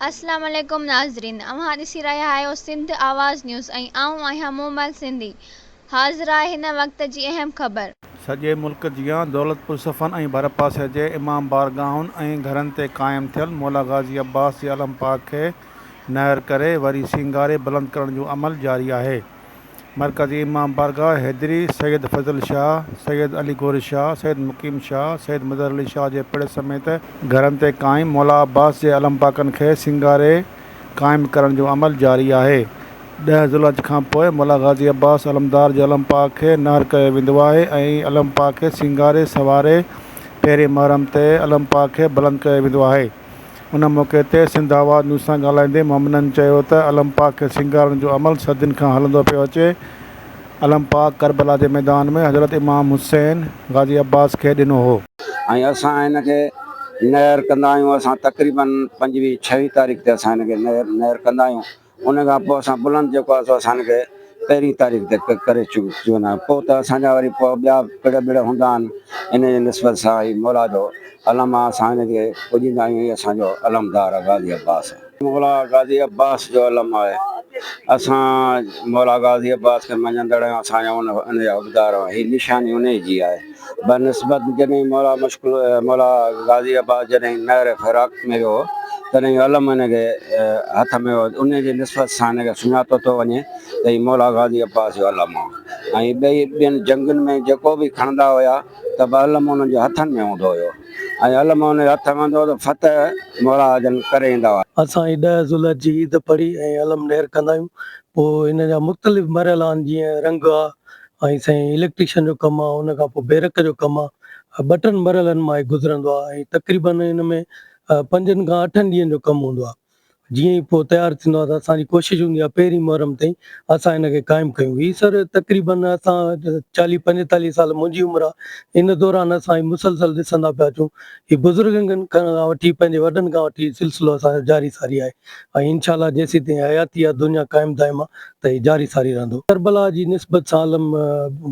السلام عليڪم ناظرين اوهان ڏسي رهيا آهيو سنڌ آواز نيوز ۽ آئون آهيان مومل سنڌي حاضر آهي هن وقت جي اهم خبر. سڄي ملڪ جيان دولتپور صفن ۽ ڀرپاسي جي امام بارگاهن ۽ گهرن تي قائم ٿيل مولا غازي عباس جي علم پاڪ کي نهر ڪري وري سينگاري بلند ڪرڻ جو عمل جاري آهي. مرڪزي امام بارگاهه حيدري، سيد فضل شاهه، سيد علي گوري شاهه، سيد مقيم شاهه، سيد مظهر علي شاهه جي پڙ سميت، گهرن تي قائم مولا عباس جي علم پاڪن کي سينگاري قائم ڪرڻ جو عمل جاري آهي. ڏهه ذوالحج کان پوء مولا غازي عباس علمدار جي علم پاڪ کي نهر ڪيو ويندو آهي ۽ علم پاڪ کي سينگاري سنواري پهرين محرم تي علم پاڪ کي بلند ڪيو ويندو آهي. ان موقعي تي سنڌ آواز نيوز سان ڳالهائيندي مومنن چيو ته علم پاڪ کي سينگارڻ جو عمل صدين کان هلندو پيو اچي، علم پاڪ ڪربلا جي ميدان ۾ حضرت امام حسين غازي عباس کي ڏنو هو. ۽ اسان هن کي نهر ڪندا آهيون، اسان تقريبن پنجويهه ڇهويهه تاريخ تي اسان هن کي نهر نهر ڪندا آهيون، ان کان پوء اسان بلند جيڪو آهي سو اسان کي پهرين تاريخ تي پڪ ڪري چڪو آهي پوء ته اسان جا وري پوء ٻيا پڙ ٻڙ هوندا آهن ان جي نسبت سان هي مولا جو علم آهي اسان هن کي پوڄيندا آهيون هي اسان جو علمدار آهي غازي عباس مولا غازي عباس جو علم آهي اسان مولا غازي عباس کي مڃيندڙ آهيون اسان جا ان جا حقدار آهيون هي نشاني انهي جي آهي. بنسبت جڏهن مولا مشڪل مولا غازي عباس جڏهن نهر فراق ۾ ويو تڏهن اهو علم هن کي هٿ ۾ هو انهيء جي نسبت سان هن کي سڃاتو ٿو وڃي ته هي مولا غازي عباس جو علم هو ۽ ٻئي ٻين جنگن ۾ جيڪو به کڻندا هيا ته به علم انهن جي هٿن ۾ هوندو هيو ۽ علم انهن جي هٿ ۾ هوندو هو ته فتح مولا جن ڪري ايندا هئا. اسان هي ڏهه ذوالحج جي عيد پڙهي ۽ علم نير ڪندا آهيون پوء ان جا مختلف مرحلا آهن جيئن رنگ آهي ۽ سائين اليڪٽريشن جو ڪم آ ان کان پوء بيرڪ جو ڪم آ ٻه ٽن مرحلن مان هي گذرندو آ ۽ تقريبن ان ۾ پنجن کان اٺن ڏينهن جو ڪم هوندو آ جيئن ئي پوء تيار ٿيندو آ ته اسان جي ڪوشش هوندي آ پهرين محرم تائين اسان ان کي قائم ڪيون هي سر تقريبن اسان چاليهه پنجيتاليهه سال منهنجي عمر آ ان دوران اسان هي مسلسل ڏسندا پيا اچون هي بزرگن کان وٺي پنهنجي وڏن کان وٺي سلسلو اسان جو جاري ساري آهي ۽ انشاء الله جيسين تائين حياتي آ دنيا قائم دائم آ ته هي جاري ساري رهندو. ڪربلا جي نسبت سان علم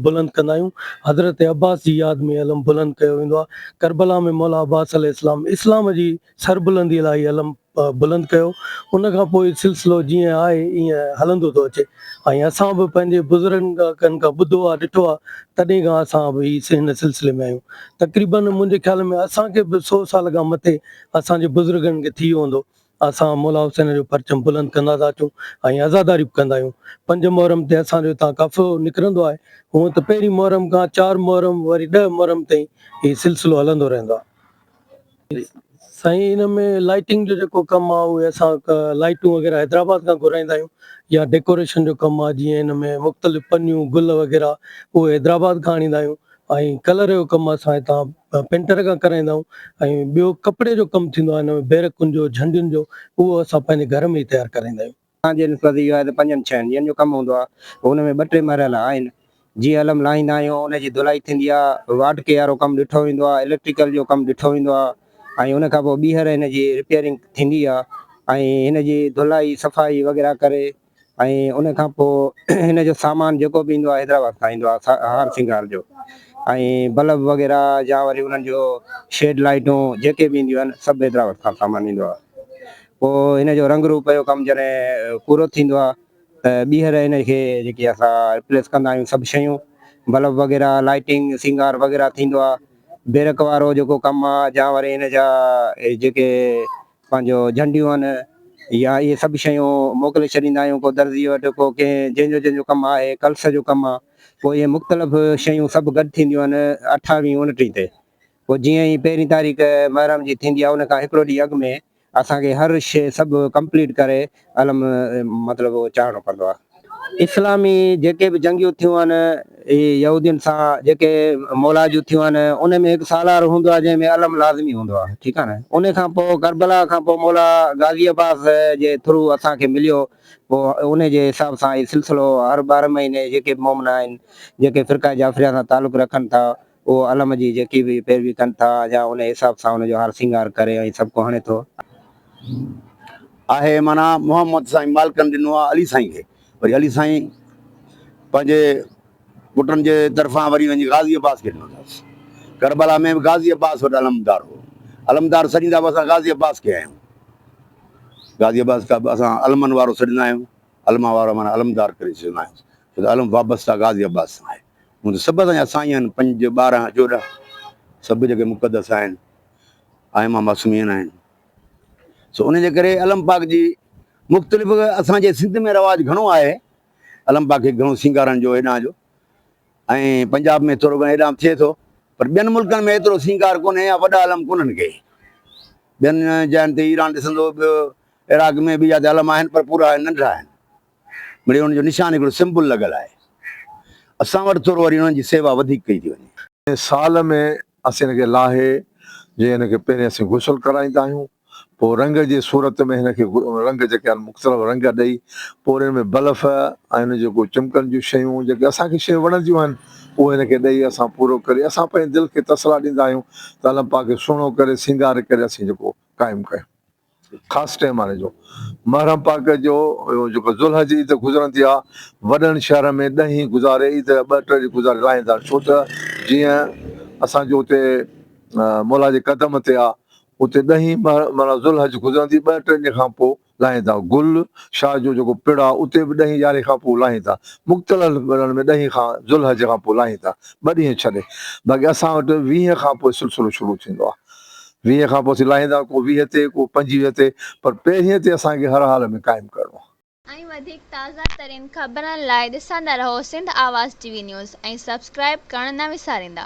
بلند ڪندا آهيون. حضرت عباس جي ياد ۾ علم بلند ڪيو ويندو آهي. ڪربلا ۾ مولا عباس عليه السلام اسلام جي سربلندي لاء هي علم بلند ڪيو. ان کان پوء سلسلو جيئن آهي ايئن هلندو ٿو اچي ۽ اسان به پنهنجي بزرگن کان ٻڌو آهي ڏٺو آهي تڏهن کان اسان به هن سلسلي ۾ آهيون. تقريباً منهنجي خيال ۾ اسان کي به سو سال کان مٿي اسان جي بزرگن کي ٿي ويو هوندو. اسان مولا حسين جو پرچم بلند ڪندا ٿا اچون ۽ عزاداري به ڪندا آهيون. پنج محرم تي اسان جو هتان قافلو نڪرندو آهي. هونء ته پهرين محرم کان چار محرم وري ڏهه محرم تائين هي سلسلو هلندو رهندو آهي. سائين ان ۾ لائٽنگ جو جيڪو ڪم آهي اهي اسان لائٽون وغيره حيدرآباد کان گهرائيندا آهيون يا ڊيڪوريشن جو ڪم آهي جيئن ان ۾ مختلف پنيون گل وغيره اهي حيدرآباد کان آڻيندا آهيون ۽ ڪلر جو ڪم اسان هتان پينٽر کان ڪرائيندا آهيون ۽ ٻيو ڪپڙي جو ڪم ٿيندو آهي ان ۾ بيرڪن جو جهنڊين جو اهو اسان پنهنجي گهر ۾ ئي تيار ڪرائيندا آهيون. اسان جي نسبت اهو آهي ته پنجن ڇهن ڏينهن جو ڪم هوندو آهي ان ۾ ٻه ٽي مرحلا آهن جيئن علم لاهيندا آهيون ان جي ڌلائي ٿيندي آهي واٽڪي وارو ڪم ڏٺو ويندو آهي اليڪٽريڪل جو ڪم ڏٺو ويندو آهي ۽ ان کان پوء ٻيهر ان جي رپيئرنگ ٿيندي آهي ۽ ان جي ڌلائي صفائي وغيره ڪري ۽ ان کان پوء هن جو سامان جيڪو به ايندو آهي حيدرآباد کان ايندو آهي هار سينگار جو ۽ بلب وغيره يا وري انهن جو شيڊ لائيٽون جيڪي به اينديون آهن سڀ حيدرآباد کان سامان ايندو آهي پوء هن جو رنگ روپ جو ڪم جڏهن پورو ٿيندو آهي ته ٻيهر هن کي جيڪي اسان ريپليس ڪندا آهيون سڀ شيون بلب وغيره لائيٽنگ سينگار وغيره ٿيندو آهي بيرڪ وارو جيڪو ڪم آهي يا وري هن جا جيڪي پنهنجو جهنڊيون يا اهي سڀ شيون موڪلي ڇڏيندا آهيون ڪو درزيء وٽ ڪو ڪنهن جنهن جو جنهن جو ڪم آهي ڪلس جو ڪم آهي پوء اهي مختلف شيون سڀ گڏ ٿينديون آهن اٺاويهين اونٽيهين تي پوء جيئن ئي پهرين تاريخ محرم جي ٿيندي آهي ان کان هڪڙو ڏينهن اڳ ۾ اسان کي هر شيء سڀ ڪمپليٽ ڪري علم مطلب اهو چاهڻو پوندو آهي. اسلامي جيڪي به جنگيون ٿيون آهن هي يهودين سان جيڪي مولا جون ٿيون آهن ان ۾ هڪ سالار هوندو آهي جنهن ۾ علم لازمي هوندو آهي ٺيڪ آهي نه ان کان پوء ڪربلا کان پوء مولا غازي عباس جي ٿرو اسان کي مليو پوء ان جي حساب سان هي سلسلو هر ٻارهن مهيني جيڪي به مومنا آهن جيڪي فرقه جعفريه سان تعلق رکن ٿا اهو علم جي جيڪي به پيروي ڪن ٿا يا انهي حساب سان ان جو هار سينگار ڪري ۽ سبقو هڻي ٿو. آهي معنيٰ محمد سائين مالڪن ڏنو آهي علي سائين کي وري علي سائين پنهنجي پٽن جي طرفان وري وڃي غازي عباس کي ڏنو اٿس. ڪربلا ۾ به غازي عباس وٽ علمدار هو. علمدار سڏيندا به اسان غازي عباس کي آهيون. غازي عباس کي به اسان علمن وارو سڏيندا آهيون. علماء وارو معنيٰ علمدار ڪري سڏيندا آهيون. ته عالم وابسته غازي عباس سان آهي. هونء ته سڀ اسان جا سائين آهن، پنج، ٻارهن، چوڏهن، سڀ جيڪي مقدس آهن، آئمه معصومين آهن، سو ان جي ڪري علم پاڪ جي مختلف اسان جي سنڌ ۾ رواج گهڻو آهي، علم پاڪ کي گهڻو سينگارڻ جو هيڏانهن جو ۽ پنجاب ۾ ٿورو گهڻو هيڏانهن به ٿئي ٿو، پر ٻين ملڪن ۾ ايترو سينگار ڪونهي يا وڏا علم ڪونهن ڪي، ٻين جاين تي ايران ڏسندو، ٻيو عراق ۾ ٻيا جا علم آهن پر پورا ننڍڙا آهن. مڙيئي انهن جو نشان هڪڙو سمبل لڳل آهي اسان وٽ ٿورو وري انهن جي سيوا وڌيڪ ڪئي ٿي وڃي. سال ۾ اسين هن کي لاهي جي هن کي پهرين اسين غسل ڪرائيندا آهيون پوء رنگ جي صورت ۾ هن کي رنگ جيڪي آهن مختلف رنگ ڏئي پوء وري ان ۾ بلف ۽ ان جيڪو چمڪن جون شيون جيڪي اسان کي شيون وڻنديون آهن اهو هن کي ڏئي اسان پورو ڪري اسان پنهنجي دل کي تسلا ڏيندا آهيون ته الله پاڪ کي سهڻو ڪري سينگار ڪري اسين جيڪو قائم ڪيون. خاص ٽيم آڻي جو محرم پاڪ جو جيڪو ذوالحج عيد گذرن ٿيا وڏن شهرن ۾ ڏهين گذاري عيد جا ٻه ٽي ڏينهن گذاري لاهين ٿا ڇو ته جيئن اسان جو اتي مولا جي قدم تي آ اتي ڏهين مهر معنيٰ ذوالحج گذرن ٿي ٻه ٽي ڏينهن کان پوء لاهين ٿا گل شاهه جو جيڪو پڙ آ اتي به ڏهين يارهين کان پوء لاهين ٿا مختلف پڙن ۾ ڏهين کان ذوالحج کان پوء لاهين ٿا ٻه ڏينهن ڇڏي باقي اسان وٽ ويهين کان پوء سلسلو شروع ٿيندو آ ويهين کان پوء اسين لاهيندا ڪو ويهه تي ڪو پنجويهه تي پر پهرينء تي اسان کي هر حال ۾ قائم ڪرڻو آهي. ۽ وڌيڪ تازه ترين خبرن لاء ڏسندا رهو Sindh Awaz T V news ۽ subscribe ڪرڻ نه وساريندا.